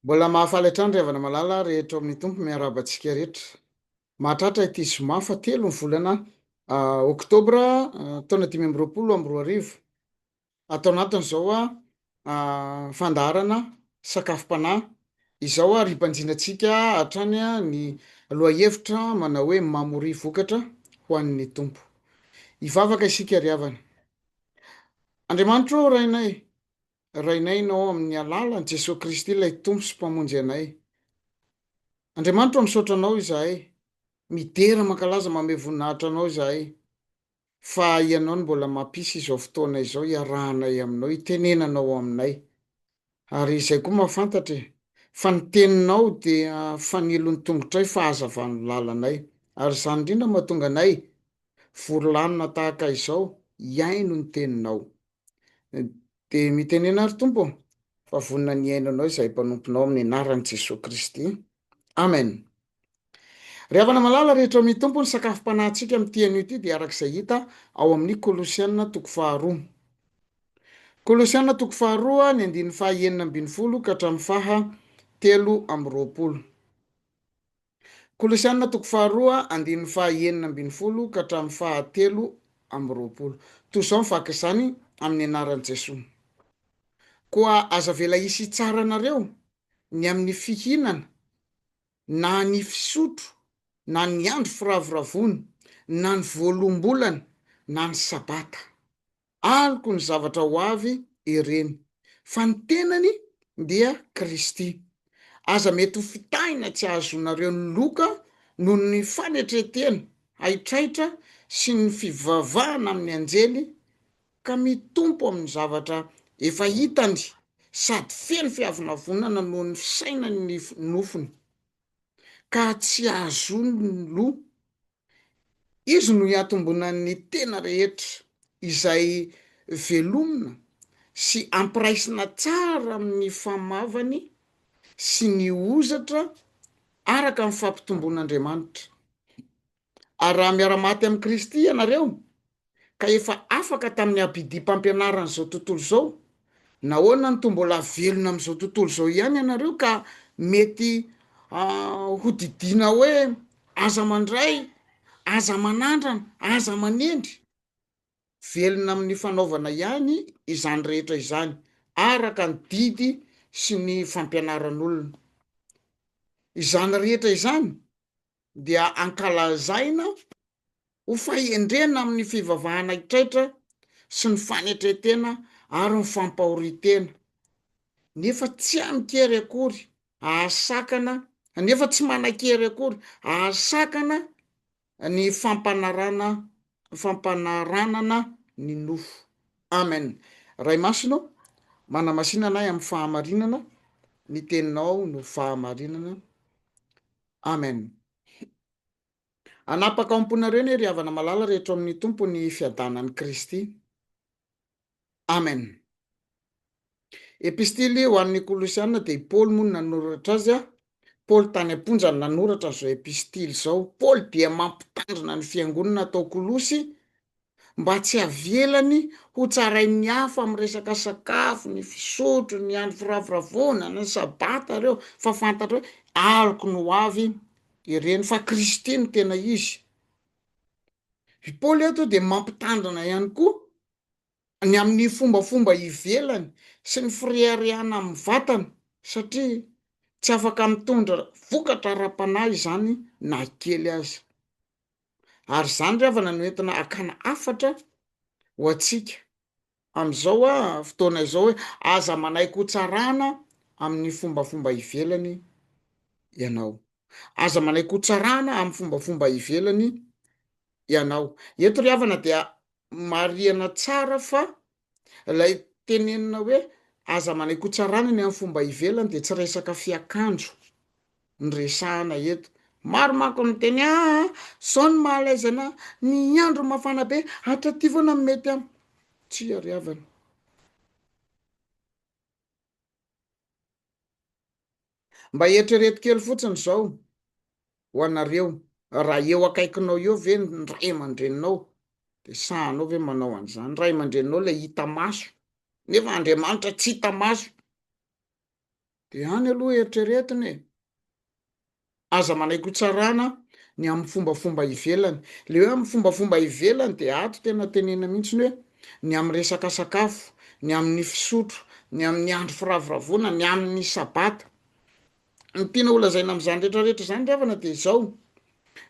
Mbola mahafaly hatrany ry havana malala rehetra ao amin'ny Tompo miarahaba antsika rehetra. Mahatratra ity zoma fahatelo ny volana oktobra taona dimy amby roapolo amby roa arivo. Atao anatiny izao fandaharana sakafom-panahy izao ary hibanjinantsika hatrany ny lohahevitra manao hoe mamoria vokatra ho an'ny Tompo. Hivavaka isika ry havana. Andriamanitra ô Rainay, Rainay Ianao ao amin'ny alalan'i Jesoa Kristy ilay Tompo sy Mpamonjy anay. Andriamanitra ô misaotra Anao izahay, midera mankalaza mamehy voninahitra Anao izahay fa Ianao no mbola mampisy izao fotoana izao hiarahanay Aminao, hitenenanao ao aminay. Ary izay koa mahafantatra e! Fa ny teninao dia fanilo ny tongotray fa hazava ny lalanay. Ary izany indrindra no mahatonga anay vory lanona tahaka izao hihaino ny teninao. Dia mitenena ary Tompo ô! Fa vonona ny hihaino anao izahay mpanomponao amin'ny anaran'i Jesoa Kristy. Amen! Ry havana malala rehetra ao amin' ny Tompo, ny sakafom-panahintsika amin' ity anio ity dia araka izay hita ao amin' ny Kolosiana toko faharoa. Kolosiana toko faharoa, ny andininy faha enina ambin'ny folo ka hatramin'ny faha telo amby roapolo. Kolosiana toko faharoa, andininy faha enina ambin'ny folo ka hatramin'ny faha telo amby roapolo. Toy izao ny vaky izany, amin' ny anaran'i Jesoa. Koa aza avela hisy hitsara anareo ny amin'ny fihinana na ny fisotro na ny andro firavoravoana na ny voaloam-bolana na ny sabata. Aloky ny zavatra ho avy ireny, fa ny tenany dia Kristy. Aza mety ho fitahina tsy hahazoanareo ny loka noho ny fanetren-tena haitraitra sy ny fivavahana amin'ny anjely ka mitompo amin'ny zavatra efa hitany sady feno fiavonavonana noho ny fisainany ny nofony, ka tsy ahazoany ny loha. Izy no iantombonan'ny tena rehetra, izay velomina sy ampiraisina tsara amin'ny famavany sy ny hozatra araka ny fampitomboan'Andriamanitra. Ary raha miara-maty amin'i Kristy ianareo, ka efa afaka tamin'ny abidim-pampianaran'izao tontolo izao, nahoana no toa mbola velona amin'izao tontolo izao ihany ianareo ka mety hodidiana hoe, Aza mandray, aza manandrana, aza manendry? Velona amin'ny fanaovana ihany izany rehetra izany, araka ny didy sy ny fampianaran'olona. Izany rehetra izany dia ankalazaina ho fahendrena amin'ny fivavahana hitraitra sy ny fanetren-tena ary ny fampahorian-tena, nefa tsy amin-kery akory ahasakana nefa tsy manan-kery akory ahasakana ny fampanarana fampanaranana ny nofo. Amen. Ray Masina ô, manamasina anay amin'ny fahamarinana, ny Teninao no fahamarinana. Amen Hanapaka ao amponareo ne ry havana malala rehetra ao amin'ny Tompo ny fiadanan'i Kristy Amen Epistily ho an'ny Kolosiana dia i Paoly moa no nanoratra azy a Paoly tany am-ponja no nanoratra an'izao epistily izao Paoly dia mampitandrina ny fiangonana tao Kolosy mba tsy havelany ho tsarain'ny hafa amin'ny resaka sakafo, ny fisotro, ny andro firavoravoana, ny sabata ireo fa fantatra hoe aloky ny ho avy ireny fa Kristy no tena izy. I Paoly eto dia mampitandrina ihany koa ny amin'ny fombafomba ivelany sy ny fireharehana amin'ny vatana satria tsy afaka mitondra vokatra ara-panahy izany na kely aza. ary izany ry havana no entina hakana hafatra ho antsika amin'izao a fotoana izao hoe aza manaiky ho tsarana amin'ny fombafomba ivelany ianao aza manaiky ho tsarana amin'ny fombafomba ivelany ianao eto ry havana dia Marihana tsara fa ilay tenenina hoe aza manaikotsarana ny amin'ny fomba ivelany dia tsy resaka fiakanjo no resahana eto. Maro manko ny miteny aa ah, zao ny mahalaizana ny andro mafana be, hatraty foana no mety am. Tsia ry havana. Mba eritrereto kely fotsiny izao ho anareo, raha eo akaikinao eo ve ny ray aman-dreninao dia sahanao ve manao an'izany? Ray aman-dreninao ilay hita maso, nefa Andriamanitra tsy hita maso. Dia any aloha eritreretiny e! Aza manaiky ho tsarana ny amin'ny fombafomba ivelany. Ilay hoe amin'ny fombafomba ivelany dia ato tena tenenina mihitsy ny hoe ny amin'ny resaka sakafo, ny amin'ny fisotro, ny amin'ny andro firavoravoana, ny amin'ny Sabata. Ny tiana holazaina amin'izany rehetra rehetra izany ry havana dia izao,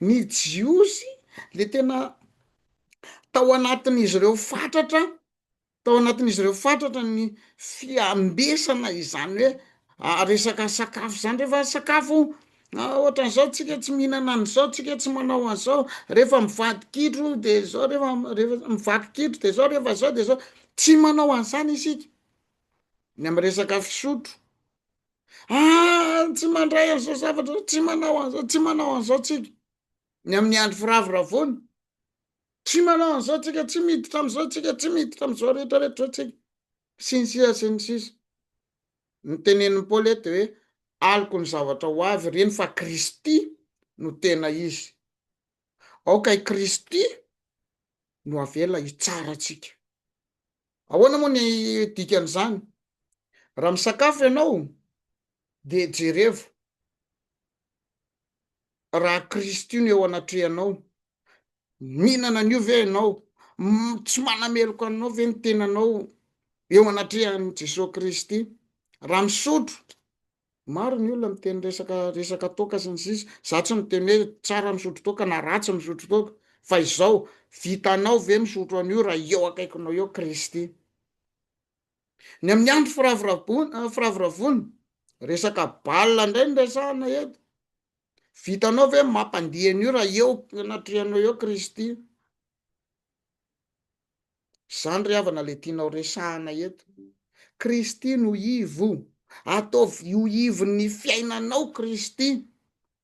ny Jiosy dia tena tao anatin'izy ireo fatratra, tao anatin'izy ireo fatratra ny fiambesana izany hoe resaka sakafo izany, rehefa sakafo. Ah ohatran'izao tsika tsy mihinana an'izao tsika tsy manao an'izao rehefa mivady kitro de zao rehefa rehefa mivaky kitro de zao rehefa zao de zao tsy manao an'izany isika ny am' resaka fisotro ah tsy mandray an'izao zavatra zao tsy manao an'izao tsy manao an'izao tsika ny amin'ny andro firavoravoana tsy manao an'izao tsika tsy miditra am'izao tsika tsy miditra am'izao rehetra rehetra zao tsika Sy ny sisa sy ny sisa. Ny tenenin'i Paoly eto dia hoe aloky ny zavatra ho avy ireny fa Kristy no tena izy. Aoka i Kristy no avela hitsara antsika. Ahoana moa ny dikan'izany? Raha misakafo ianao dia jerevo raha Kristy io no eo anatrehanao, mihinana an'io ve ianao, tsy manameloka anao ve ny tenanao eo anatrehan'i Jesoa Kristy, raha misotro, maro ny olona miteny resaka resaka toaka sy ny sisa, za tsy miteny hoe tsara misotro toaka na ratsy misotro toaka, fa izao, vitanao ve misotro an'io raha eo akaikinao eo Kristy. Ny amin'ny andro firavoravoana, firavoravoana, resaka bal indray no resahana eto. Vitanao ve mampandihy an'io raha eo anatrehanao eo Kristy? Izany ry havana ilay tianao resahana eto. Kristy no ivo, ataovy ho ivon'ny fiainanao Kristy.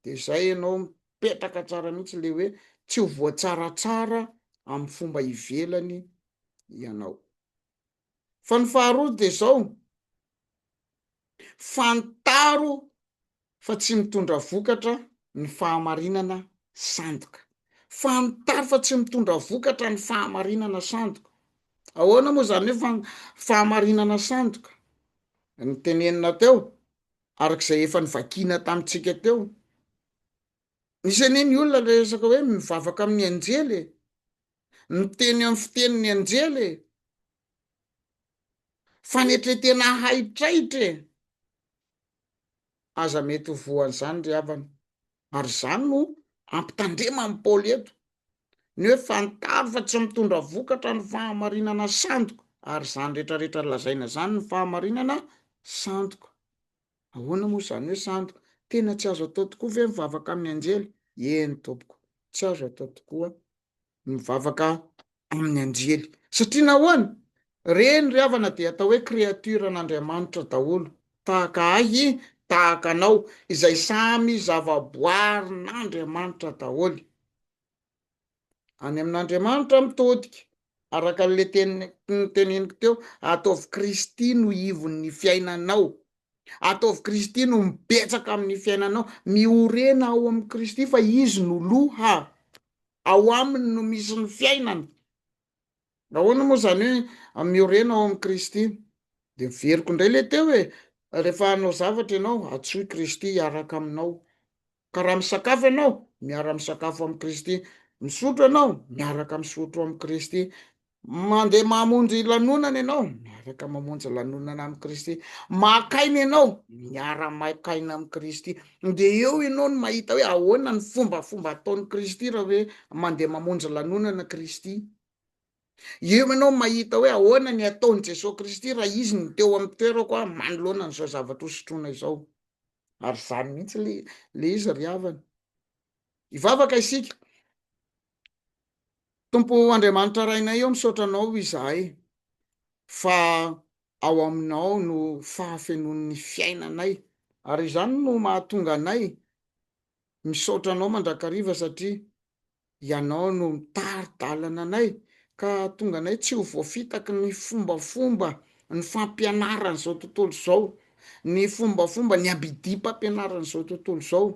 Dia izay ianao mipetraka tsara mihitsy ilay hoe tsy ho voatsaratsara amin'ny fomba ivelany ianao. Fa ny faharoa dia izao, fantaro fa tsy mitondra vokatra ny fahamarinana sandoka. Fantaro fa tsy mitondra vokatra ny fahamarinana sandoka. Ahoana moa izany hoe fa- fahamarinana sandoka? Ny tenenina teo, araka izay efa novakiana tamintsika teo. Misy anie ny olona resaka hoe mivavaka amin'ny anjely e! Miteny amin'ny fiteny ny anjely e! Fanetretena haitraitra e! Aza mety ho voan'izany ry havana. Ary izany no hampitandrema an'i Paoly eto. Ny hoe fantaro fa tsy mitondra vokatra ny fahamarinana sandoka, ary izany rehetra rehetra lazaina izany ny fahamarinana sandoka. Ahoana moa izany hoe sandoka? Tena tsy azo atao tokoa ve ny mivavaka amin'ny anjely? Eny tompoko, tsy azo atao tokoa ny mivavaka amin'ny anjely. Satria nahoana? Reny ry havana dia atao hoe créature an'Andriamanitra daholo, tahaka ahy, tahaka anao, izay samy zavaboarin'Andriamanitra daholo. any amin'Andriamanitra mitodika, araka an'le teny noteneniko teo, ataovy Kristy no ivon'ny fiainanao, ataovy Kristy no mibetsaka amin'ny fiainanao, miorena ao amin'i Kristy fa izy no loha, ao aminy no misy ny fiainana, Nahoana moa izany hoe miorena ao amin'i Kristy? Dia miveriko indray ilay teo e, rehefa hanao zavatra ianao, antsoy Kristy hiaraka aminao. Ka raha misakafo ianao, miara-misakafo amin'i Kristy. Misotro ianao, miaraka misotro amin'i Kristy. Mandeha mamonjy lanonana ianao, miaraka mamonjy lanonana amin'i Kristy. Maka aina ianao, miara-maka aina amin'i Kristy. Ndeha eo ianao no mahita hoe ahoana ny fombafomba ataon'i Kristy raha hoe mandeha mamonjy lanonana Kristy. Eo ianao mahita hoe ahoana ny ataon'i Jesoa Kristy raha Izy no teo amin'ny toerako aho manoloana an'izao zavatra hosotroina izao. Ary izany mihitsy ilay izy ry havana. Hivavaka isika. Tompo Andriamanitra Rainay ô misaotra Anao izahay fa ao Aminao no fahafenoan'ny fiainanay ary izany no mahatonga anay misaotra Anao mandrakariva satria Ianao no mitari-dalana anay ka ahatonga anay tsy ho voafitaky ny fombafomba ny fampianaran'izao tontolo izao, ny fombafomba ny abidipampianaran'izao tontolo izao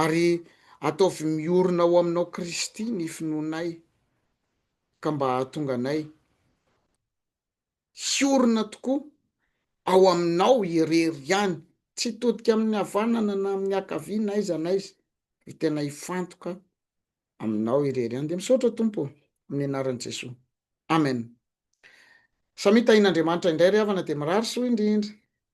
Ary ataovy miorina ao aminao Kristy ny finoanay ka mba hahatonga anay hiorina tokoa ao aminao irery ihany, tsy hitodika amin'ny havanana na amin'ny hakavia na aiza na aiza, fa tena hifantoka aminao irery ihany. Dia misaotra Tompo ô, amin'ny anaran'i Jesoa. Amen. Samia tahin'Andriamanitra indray ry havana dia mirary soa indrindra.